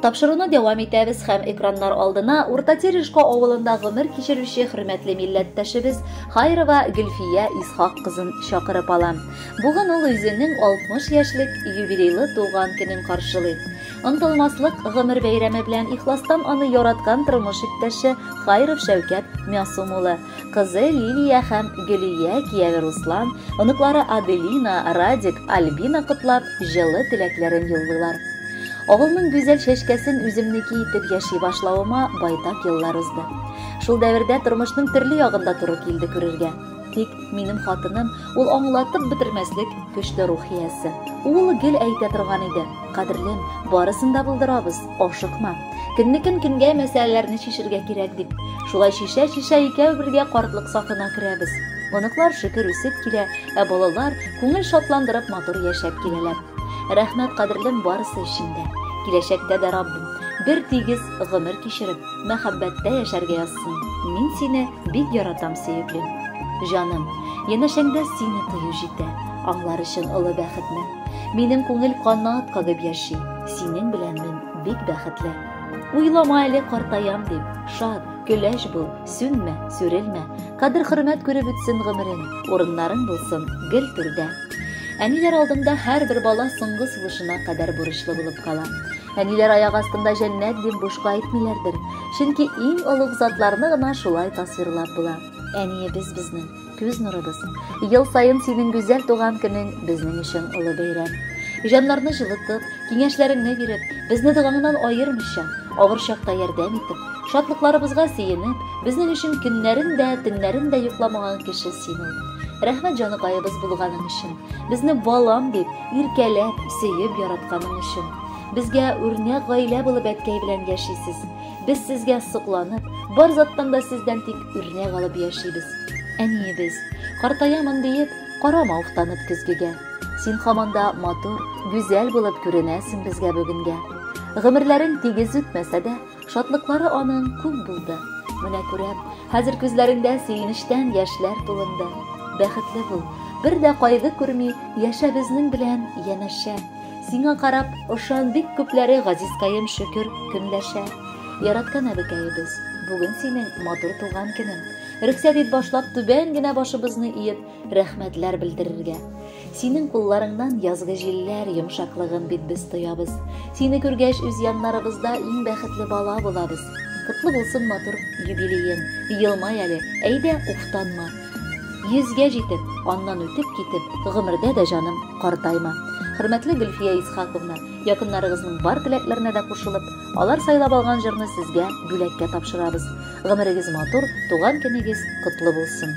Тапшыруны дәвам итәбез һәм экраннар алдына Урта Терешко авылында гомер кичерүче хөрмәтле милләттәшебез Хайрова Гөлфия Исхак кызын чакырып ала. Бүген ул үзенең 60 яшьлек юбилейлы туган көнен каршылый. Онтылмаслык гомер бәйрәме белән ихластан аны яраткан тормыш иптәше Хайров Шәүкәт Мясум улы Кызы Лилия һәм Гөлия, кияве Руслан, оныклары Аделина, Радик, Альбина котлап, җылы теләкләрен юллыйлар. Авылның гүзәл чәчкәсен үземнеке итеп яши башлавыма байтак еллар узды. Шул дәвердә тормышның төрле ягында туры килде күрергә. Тик минем хатыным, ул аңлатып бетермәслек көчле рух иясе. Ул гел әйтә торган иде, кадерлем, барысын да булдырабыз. Ашыкма. Көннекен көнгә мәсьәләләрне чишергә кирәк дип. Шулай чишә-чишә икәү бергә картлык сафына керәбез. Оныклар шөкер үсеп килә, ә балалар күңел шатландырып матур яшәп киләләр. Рәхмәт кадерлем барысы өчен дә. Киләчәктә дә Раббым бер тигез гомер кичереп, мәхәббәттә яшәргә язсын. Мин сине бик яратам, сөеклем. Җаным, янәшәңдә сине тою җитә. Аңлар өчен олы бәхетне. Минем күңел канат кагып яши, синең белән мин бик бәхетле. Уйлама әле картаям дип, шат, көләч бул, сүнмә, сүрелмә. Кадер-хөрмәт күреп үтсен гомерең, урыннарың булсын гел түрдә. Әниләр алдында һәрбер бала соңгы сулышына кадәр бурычлы булып кала. Әниләр аяк астында җәннәт дип бушка әйтмиләрдер, чөнки иң олуг затларны гына шулай тасвирлап була. Әниебез безнең Күз нурыбыз. Ел саен синең гүзәл туган көнең безнең өчен олы бәйрәм. Җаннарны җылытып, киңәшләреңне биреп, безне догаңнан аермыйча, авыр чакта ярдәм итеп, шатлыкларыбызга сөенеп, безнең өчен көннәрен дә, төннәрен дә йокламаган кеше син ул. Рәхмәт җаныкаебыз булганың өчен, безне балам дип, иркәләп, сөеп яратканың өчен. Безгә үрнәк гаилә булып әткәй белән яшисез. Без сезгә сокланып, бар заттан да сездән тик үрнәк алып яшибез. Әниебез, картаямын диеп, карама уфтанып көзгегә. Син һаман да матур, гүзәл булып күренәсең безгә бүгенгә. Гомерләрең тигез үтмәсә дә, шатлыклары аның күп булды. Менә күрәм, хәзер күзләреңдә сөенечтән яшьләр тулынды. Бәхетле бул, бер дә кайгы күрми, яшә безнең белән янәшә. Сиңа карап, ошан бик күпләре Газизкаем шөкер көнләшә. Яраткан әбекәебез, бүген синең матур туган көнең. Рөхсәт ит башлап түбән генә башыбызны иеп, рәхмәтләр белдерергә. Синең кулларыңнан язгы җилләр йомшаклыгын бит без тоябыз. Сине күргәч, үз яннарыбызда иң бәхетле бала булабыз. Котлы булсын матур юбилеен. Елмай әле, әйдә, уфтанма. Йөзгә җитеп, аннан үтеп китеп, гомердә дә җаным картайма. Хөрмәтле Гөлфия Исхаковна, якыннарыгызның бар теләкләренә дә кушылып, алар сайлап алган җырны сезгә бүләккә тапшырабыз. Гомерегез матур, туган көнегез котлы булсын!